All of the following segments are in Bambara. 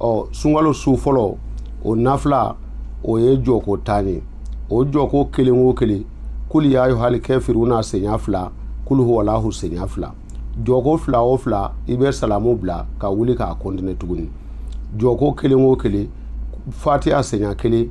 ɔ sunkalo su fɔlɔ o nafila o ye jɔko tan ye o jɔko kelen o kelen kuli ya ayuhali kafiruna senya fila kulu huwalahu senya fila jɔko fila o fila i bɛ salamu bila ka wuli k'a kɔntine tuguni jɔko kelen o kelen fatiya senya kelen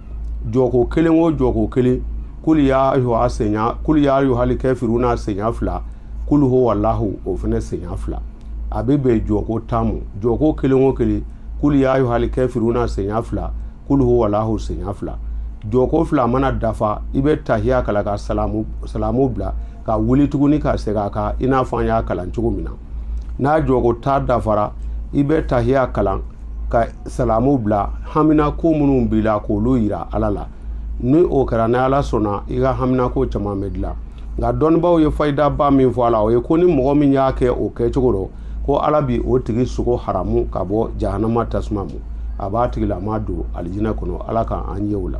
jɔko kelen o jɔko kelen kuli ya ayuha senya kuli ya ayuhali kafiruna senya fila kulu huwalahu o fana senya fila a bɛ bɛn jɔko tan ma jɔko kelen o kelen kuli ya ayuhali kafiruna senya fila kulu huwalahu senya fila jɔko fila mana dafa i bɛ tahiya kalan ka salamu salamu bila ka wuli tuguni ka segin a kan i n'a fɔ an y'a kalan cogo min na n'a jɔko tan dafara i bɛ tahiya kalan ka salamu bila haminanko minnu b'i la k'olu yira ala la ni o kɛra ni ala sɔnna i ka haminanko caman bɛ dilan nka dɔnnibaaw ye fayidaba min fɔ a la o ye ko ni mɔgɔ min y'a kɛ o kɛcogo rɔ ko ala bi o tigi sogo haramu ka bɔ jahanama tasuma ma a b'a tigilama don alijinɛ kɔnɔ ala ka an ye o la